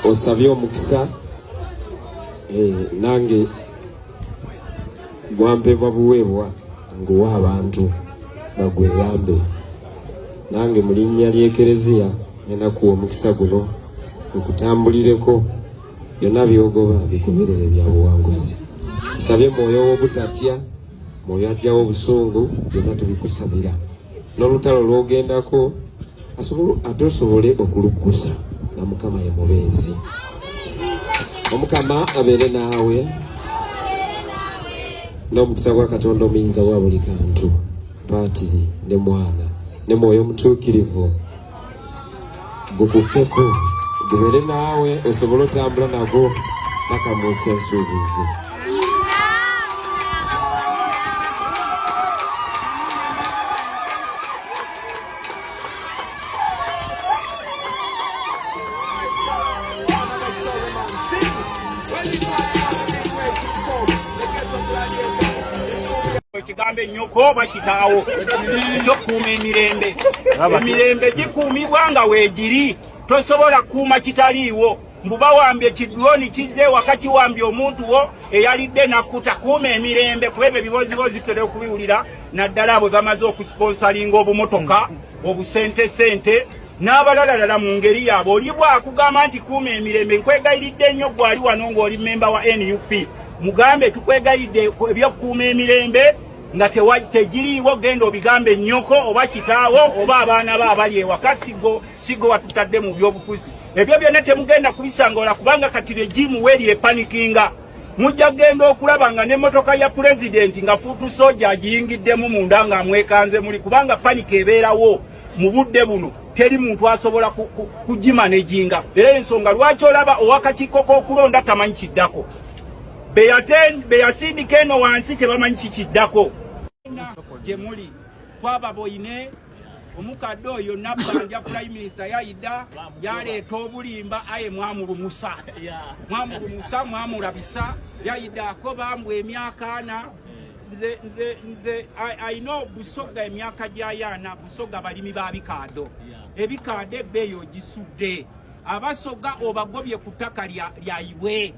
osabye omukisa eh, nange gwampebwa buweebwa nguwa abantu bagweyambe nange mu linnya ly'ekereziya nenakuwa omukisa guno okutambulireko byonna byogoba bikuberere bya buwanguzi nsabye mwoyo w'obutatya mwoyo ajjawo obusungu byonna tubikusabira n'olutalo lwogendako ate osobole okuluggusa nga mukama ye mubeezi omukama abeere naawe n'omukisa gwa katonda omuyinza wa buli kantu paatiri ne mwana ne mwoyo omutuukirivu gukutteko gubeere naawe osobole otambula nago paka mu nsi ensuubizi gambe nyoko oba kitaawo ekyokuuma emirembe emirembe gikuumibwa nga weegiri tosobola kuuma kitaliiwo mbu bawambye ekidwoni kizze waka kiwambye omuntu wo eyalidde nakkuta kuuma emirembe kuba ebyo ebibooziboozi tutera okubiwulira naddala bwe bamaze okusiponsalinga obumotoka obusentesente n'abalalalala mu ngeri yaabwe oli bwakugamba nti kuuma emirembe nkwegayiridde nnyo gwali wano ng'oli mmemba wa nup mugambe tukwegayiridde ebyokukuuma emirembe nga tegiriiwo genda obigambe nnyoko oba kitaawo oba abaana be abali ewaka sigo sigo watutadde mu byobufuzi ebyo byonna temugenda kubisangola kubanga kati regimu weri epanikinga mujja kugenda okulaba nga n'emmotoka ya pulezidenti nga fuutu soja agiyingiddemu munda ng'amwekanze muli kubanga panika ebeerawo mu budde buno teri muntu asobola kugimanejinga era ensonga lwaki olaba owakakiiko k'okulonda tamanyi kiddako beyasindika eno wansi tebamanyi kikiddako gyemuli twaba boine omukadde oyo nabbanja prime minister yayida yaleeta obulimba aye mwamulumusa mwamulumusa mwamulabisa yayidako bambu emyaka ana nze nze nze alina busoga emyaka gyayaana busoga balimi ba bikaado ebikaado ebbeeyi ogisudde abasoga obagobye ku ttaka lyayibwe eh.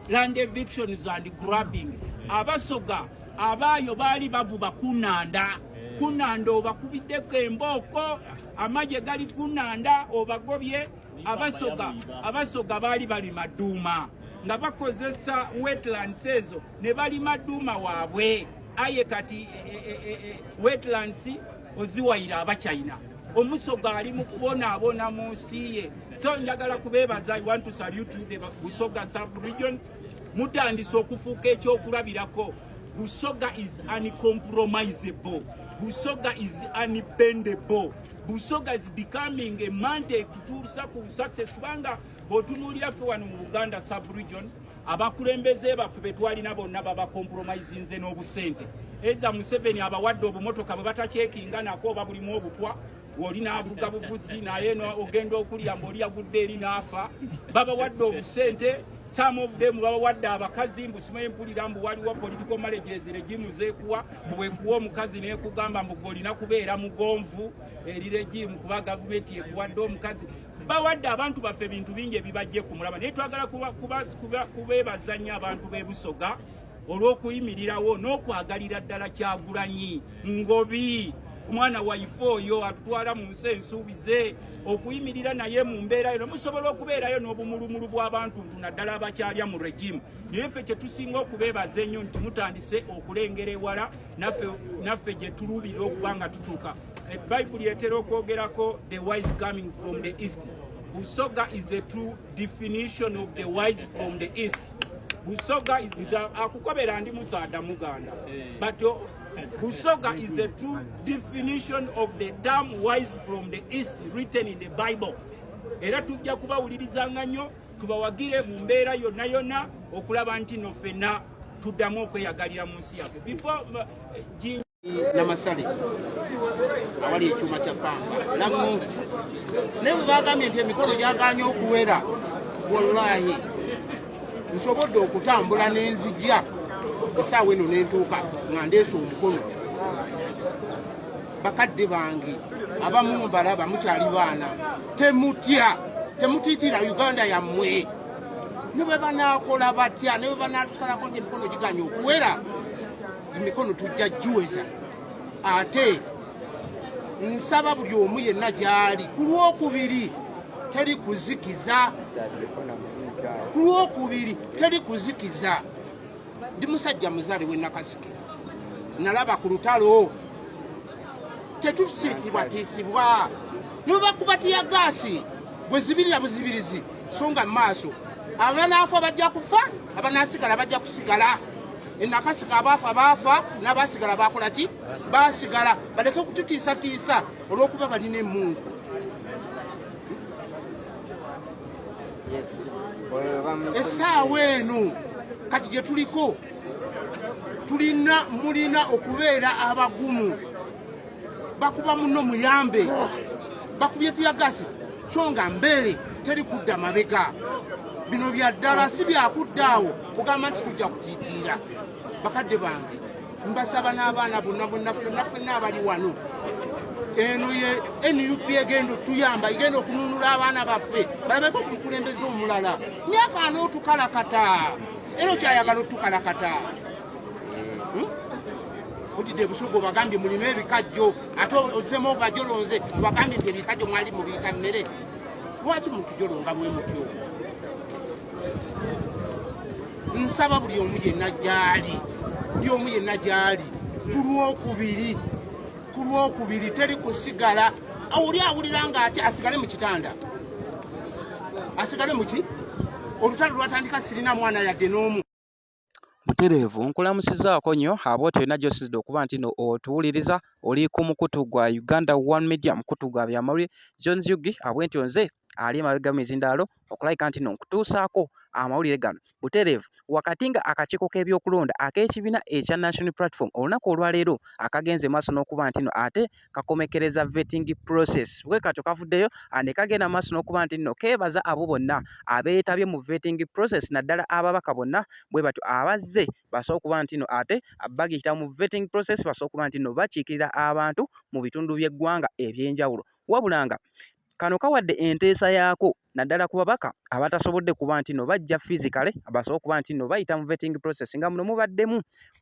land evictions and grabbing eh. abasoga abaayo baali bavuba kunanda eh. kunanda obakubiddeko embooko amagye gali kunanda obagobye abasoga abasoga baali balima duuma nga bakozesa wetlands ezo ne balima duuma waabwe aye kati e, e, e, wetlands oziwayira abachina omuso gaali mu kubonaabona mu nsi ye so njagala kubeebaza i want to salute you the busoga sub region mutandise okufuuka ekyokulabirako busoga is uncompromisable busoga is unbendable busoga is becoming a mandate tutuusa ku success kubanga bwotunuulira ffe wano mu buganda sub region abakulembeze baffe betwalina bonna babakompromisinze n'obusente eza museveni abawadde obumotoka bwe batakyekinga nako oba bulimu obutwa oli n'avuga buvuzi naye ogenda okulya mbaoli yagudde eri n'afa babawadde obusente some of them babawadde abakazi mbusimaye mpulira mbu waliwo political marriages regimu zekuwa bwekuwa omukazi nekugamba mbu gwe olina kubeera mugonvu eri regimu kuba gavumenti ekuwadde omukazi bawadde abantu baffe ebintu bingi ebibajje ku mulaba naye twagala kubeebaza nnyo abantu b'e busoga olw'okuyimirirawo n'okwagalira ddala kyagulanyi ngobi omwana waife oyo atutwala mu nsi ensuubize okuyimirira naye mu mbeera yono musobola okubeerayo n'obumulumulu bw'abantu ntu naddala abakyalya mu regimu naye ffe kye tusinga okubeebaza ennyo nti mutandise okulengera ewala naffe gye tuluubirira okuba nga tutuuka E Bayibuli etera okwogerako the wise coming from the east. Busoga is a true definition of the wise from the east. Busoga is, is a, akukobera ndi musaada muganda. Eh. But uh, Busoga is a true definition of the term wise from the east written in the Bible. Era tujja kubawulirizanga nnyo tubawagire mu mbeera yonna yonna okulaba nti no fenna tuddamu okweyagalira mu nsi yaffe. namasale awali ekyuma kya pamba nagonvu naye bwe bagambye nti emikolo gyaganye okuwera wallahi nsobodde okutambula n'enzija esaawa eno nentuuka nga ndeesa omukono bakadde bange abamu mubalaba mukyali baana temutya temutiitira uganda yammwe ne bwe banaakola batya ne bwe banaatusalako nti emikono giganye okuwera emikono tujja giweza ate nsaba buli omu yenna gy'ali ku lwokubiri teri kuzikiza ku lwokubiri teri kuzikiza ndi musajja muzaale we nakasike nalaba ku lutalo tetusiitibwatiisibwa nobakuba tiya gaasi gwe zibirira buzibirizi so nga mu maaso abanaafa bajja kufa abanasigala bajja kusigala enakasika abaafa baafa n'abaasigala baakola ki baasigala baleke okututiisatiisa olw'okuba balina emmundu essaawa eno kati gye tuliko tulina mulina okubeera abagumu bakuba muno muyambe bakubye tiyagasi kyo nga mbeere teri kudda mabega bino bya ddala si byakudda awo kugamba nti tujja kutiitiira bakadde bange mbasaba n'abaana bonna bonna fenna fenna abali wano eno ye nup egenda otuyamba egenda okununula abaana baffe balabeko ku mukulembeze omulala myaka anootukalakata era okyayagala otukalakata hmm? udidde ebusuga obagambye mulina ebikajjo ate ozemu ogajolonze obagambye nti ebikajjo mwali mubiyita mmere lwaki mutujolonga bwe mutyo nsaba buli omu yenna gyali buli omu yenna gyali ku lwokubiri ku lwokubiri teri kusigala oli awulira nga ati asigale mu kitanda asigale muki olutalo lwatandika sirina mwana yadde n'omu Butereevu nkulamusizaako nnyo abo tolina gy'osinzidde okuba nti no otuwuliriza oli ku mukutu gwa Uganda One Media mukutu gwa byamawulire John Yugi abwe nti nze ali emabega mu mizindaalo okulabika nti no nkutuusaako amawulire gano butereevu wakati nga akakiiko k'ebyokulonda ak'ekibiina ekya National Platform olunaku olwaleero akagenze maaso n'okuba nti no ate kakomekereza vetting process bwe katyo kavuddeyo ah, ne kagenda maaso n'okuba nti nno keebaza abo bonna abeetabye mu vetting process naddala ababaka bonna bwe batyo abazze basobola okuba nti nno ate bagiyita mu vetting process basobola okuba nti nno bakiikirira abantu mu bitundu by'eggwanga eby'enjawulo wabula nga kano kawadde enteesa yaako naddala ku babaka abatasobodde kuba nti no bajja physicale basobola okuba nti no bayita mu vetting process nga muno mubaddemu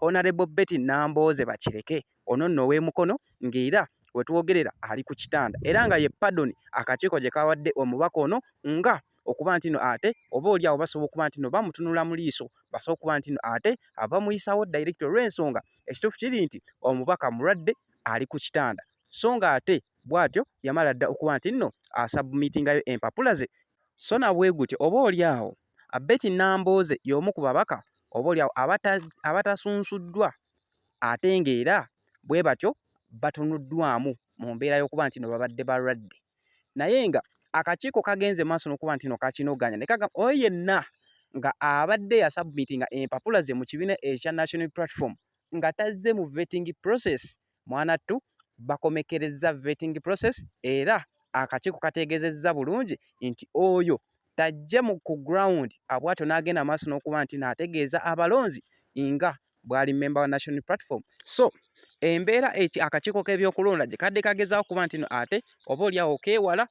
honorable betty nambooze bakireke Ono nno ow'e Mukono ng'era we twogerera ali ku kitanda era nga ye pardon akakiiko gye kaawadde omubaka ono nga okuba nti no ate oba oli awo basobola okuba nti no bamutunula mu liiso basobola okuba nti no ate abamuyisaawo direct olw'ensonga ekituufu kiri nti omubaka mulwadde ali ku kitanda so nga ate bw'atyo yamala dda okuba nti nno asabumitingayo empapula ze so na bwe gutyo oba oli awo Abeti Nambooze y'omu ku babaka oboolyawo abatasunsuddwa ate ng'era bwe batyo batunuddwamu mu mbeera y'okuba nti no babadde balwadde naye nga akakiiko kagenze maaso n'okuba nti no kakinogaanya ne kagamba oyo yenna nga abadde yasabmiti nga empapula ze mu kibiina ekya national platform nga tazze mu vetting process mwanattu bakomekerezza vetting process era akakiiko kateegezezza bulungi nti oyo tajje mu ku ground abwatyo n'agenda maaso n'okuba nti naategeeza abalonzi nga bwali memba wa national platform so embeera eki akakiiko k'ebyokulonda gye kadde kagezaako kuba nti no ate oba oliawo okeewala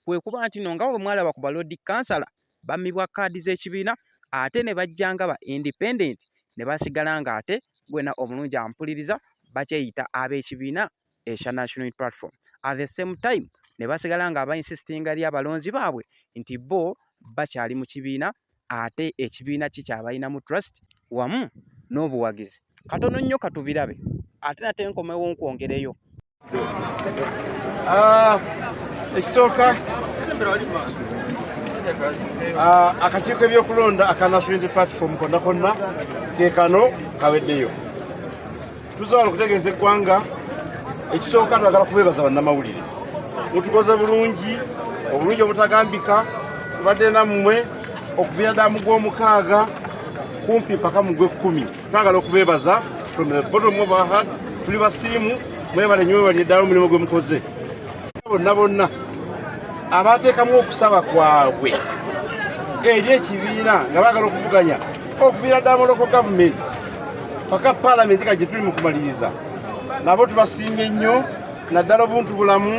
kwe kuba nti no nga bwe mwalaba ku balodi kansala bammibwa kaadi z'ekibiina ate ne bajja nga ba independent ne basigala ng'ate gwena omulungi ampuliriza bakyeyita ab'ekibiina ekya National Unity Platform at the same time ne basigala nga aba insistinga eri abalonzi baabwe nti bo bakyali mu kibiina ate ekibiina ki kyabalinamu trust wamu n'obuwagizi katono nnyo katubirabe ate nate nkomewo nkwongereyo ah, ekisooka ah, akakiiko ebyokulonda aka national unity platform konna konna kekano kaweddeyo tusobola okutegeeza eggwanga ekisooka twagala kubeebaza bannamawulire mutukoze bulungi obulungi obutagambika tubadde nammwe okuviira ddala mu gw'omukaaga kumpi mpaka mu gw'ekkumi twagala okubeebaza from the bottom of our hearts tuli basiimu mwebale nyo mwebali eddala omulimu gwe mukoze bonna bonna abateekamu okusaba kwabwe eri ekibiina nga baagala okuvuganya okuviira ddala muloko gavumenti paka palamenti ka gye tuli mu kumaliriza nabo tubasiimye nnyo naddala obuntu bulamu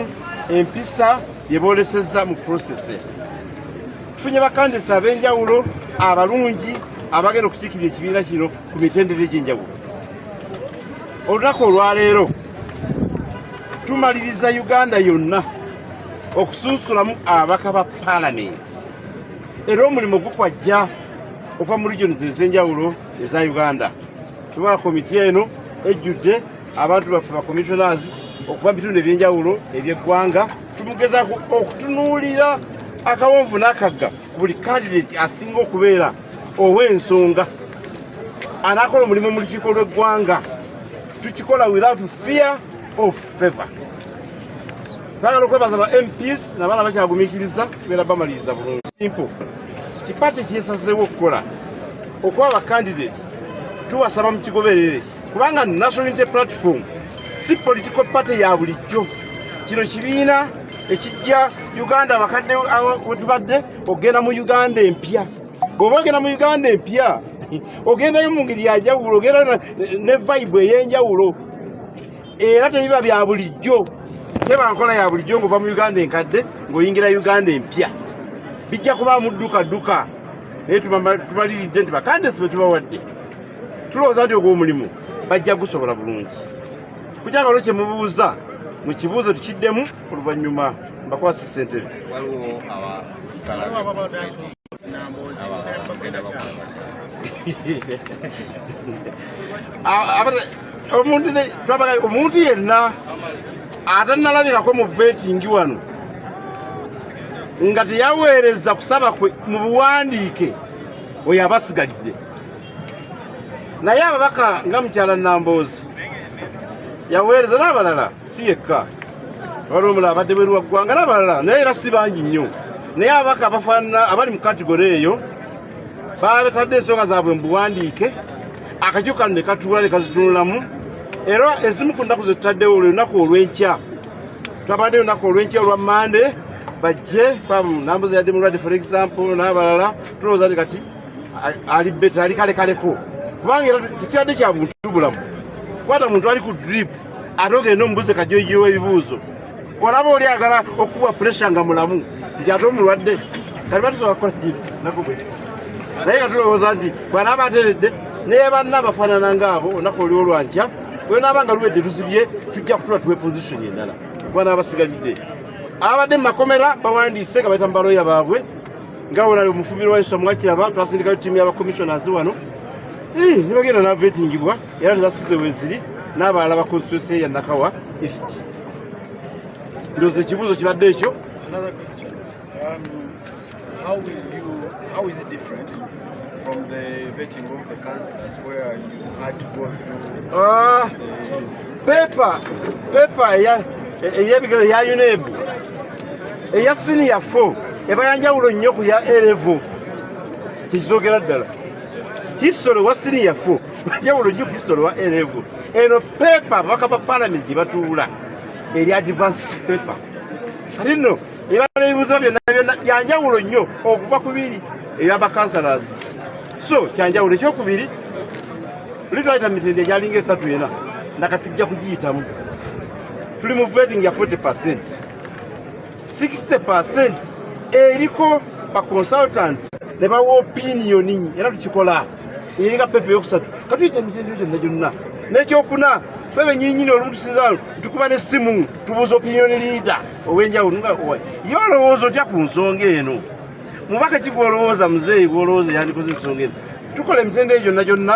empisa bye boolesezza mu prosese tufunye bakandisa ab'enjawulo abalungi abagenda okukiikirira ekibiina kino ku mitendera egy'enjawulo olunaku olwaleero tumaliriza uganda yonna okusunsulamu ababaka ba palamenti era omulimu gukwajja okuva mu regions ez'enjawulo eza uganda tubala komiti eno ejjudde abantu baffe ba commissioners okuva mu bitundu ebyenjawulo ebyeggwanga tumugeza okutunuulira akawonvu n'akagga ku buli kandidati asinga okubeera ow'ensonga anaakola omulimu mu lukiiko lw'eggwanga tukikola without fear of favor twagala okwebaza ba mps nabaana bakyagumikiriza tubeera bamaliriza bulungi simple kipate kyesazeewo okukola okuba ba candidates tubasaba mu kigoberere kubanga national unity platform si political party ya bulijjo kino kibiina ekijja uganda abakadde wetubadde okugenda mu uganda empya bw'oba ogenda mu uganda empya ogendayo mu ngeri yanjawulo ogenda ne vibe ey'enjawulo era tebiba bya bulijjo teba nkola ya bulijjo ng'ova mu uganda enkadde ng'oyingira uganda empya bijja kuba muddukaduka naye tubaliridde nti bakandesi bwe tubawadde tulowooza nti ogw'omulimu bajja gusobola bulungi kukyakalo kye mubuuza mu kibuuzo tukiddemu oluvannyuma mbakwasa ssentebe omuntu twabaga omuntu yenna atanalabikako mu vetingi wano nga teyaweereza kusaba kwe mu buwandiike oyo abasigalidde naye ababaka nga mukyala namboozi yaweereza n'abalala si yekka waliwo omulala abadde bweru wa ggwanga n'abalala naye era si bangi nnyo naye abaka abafaanana abali mu kategore eyo babatadde ensonga zaabwe mu buwandiike akakiiko kano ne katuula ne kazitunulamu era ezimu ku nnaku zetutaddewo olunaku olw'enkya twabadde olunaku olw'enkya olwa mande bajje pamu nambuza yadde mulwadde for example n'abalala tulowooza nti kati ali beta ali kalekaleko kubanga era tekyadde kya buntu bulamu kwata muntu ali ku dripu ate ogenda omubuze kajojiwa ebibuuzo olaba oli agala okukuba puresha nga mulamu nti ate omulwadde kati batusobola kukola kino nakubwe naye nga tulowooza nti bwanaaba ateredde naye banna abafaanana ngaabo olunaku oliwo lwankya wenaaba nga luwedde luzibye tujja kutula tuwe position endala kubana abasigalidde abadde mu makomera bawandiise nga baita mubaloya baabwe nga wona omufumiro wa yesu amwakiraba twasindikayo tiimu yabakomissionazi wano nibagenda navetingibwa era tezasize weziri n'abalala ba konstituensi eya nakawa east ndooza ekibuuzo kibadde ekyo um, How, will you, how is it different from the vetting of the councillors where you had to go through uh, the... paper paper eyebigero ya UNEB eya senior 4 eba yanjawulo nnyo ku ya A level tekizogera ddala history wa senior 4 Njawulo nnyo Kristo olwa erevu. Eno pepa ababaka ba palamenti gye batuula eri advance pepa kati nno ebala ebibuzo byonna byonna byanjawulo nnyo okuva ku biri ebyabakansalas so kyanjawulo ekyokubiri oli twayita mitende egyalinga esatu yena nakatujja kugiyitamu tuli mu vetting ya 40 percent 60% eriko ba consultants ne bawa opinioni era tukikola nga pepe yokusatu katuyita emitendero gyonna gyonna nekyokuna fe benyinyini olumu tusinzalo tukuba nesimu tubuuza opinioni leader owenjawulo nga ye olowooza otya ku nsonga eno mubaka kigwolowooza muzeeyi gwolowooza yandikoze ensonga eno tukola emitendero gyonna gyonna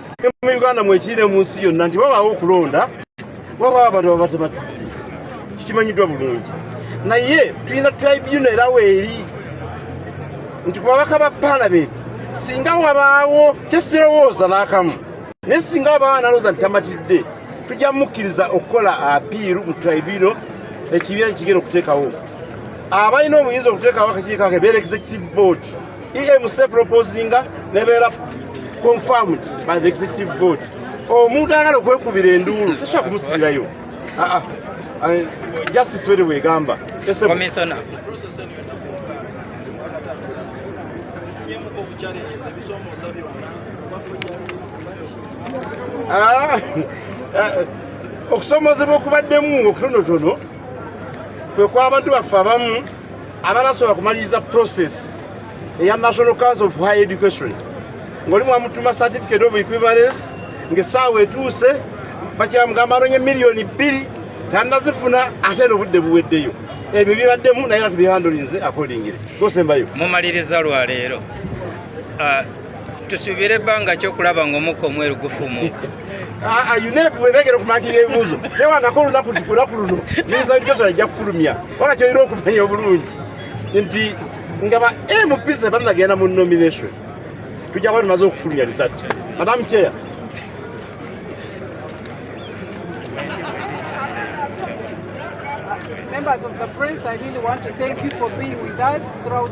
mu uganda mwekirire mu nsi yonna nti babaawo okulonda wabaawo abantu babatematidde kikimanyiddwa bulungi naye tulina tribuna era weeri nti ku babaka ba palamenti singa wabaawo kyesirowooza n'akamu naye singa wabaawo analooza nti tamatidde tujja mukkiriza okukola apiiru mu tribuna ekibiina kigenda okuteekawo abalina obuyinza okuteekawo akakiikake beerekeza chief board EMC proposinga nebeera confirmed by the executive board omuntu ayagala okwekubira enduulu tosobola kumusibirayo ah, ah. justice were wegamba ah, eh, okusomozebwa okubaddemu okutonotono kwe kwabantu baffe abamu abalasobola kumaliriza process eya national council of high education ngoli mwamutuma certificate of equivalence ngaesaawa etuuse bakyamugamba anonye miliyoni bbiri tanazifuna ate nobudde buweddeyo ebyo bibaddemu naye era tubihandulinze akolingire gosembayo mumaliriza lwaleero uh, tusuubira ebbanga ki okulaba ng'omukka omweru gufuumuuka unepu bwebegera okumatira ebibuuzo tewangako olunaku lunaku luno minisita w'ebikozesa ajja kufulumya wala kyolina okumanya obulungi nti nga ba mp sebanagenda mu nomination tujja kuba tumaze okufulumya results madam chair Members of the press, I really want to thank you for being with us throughout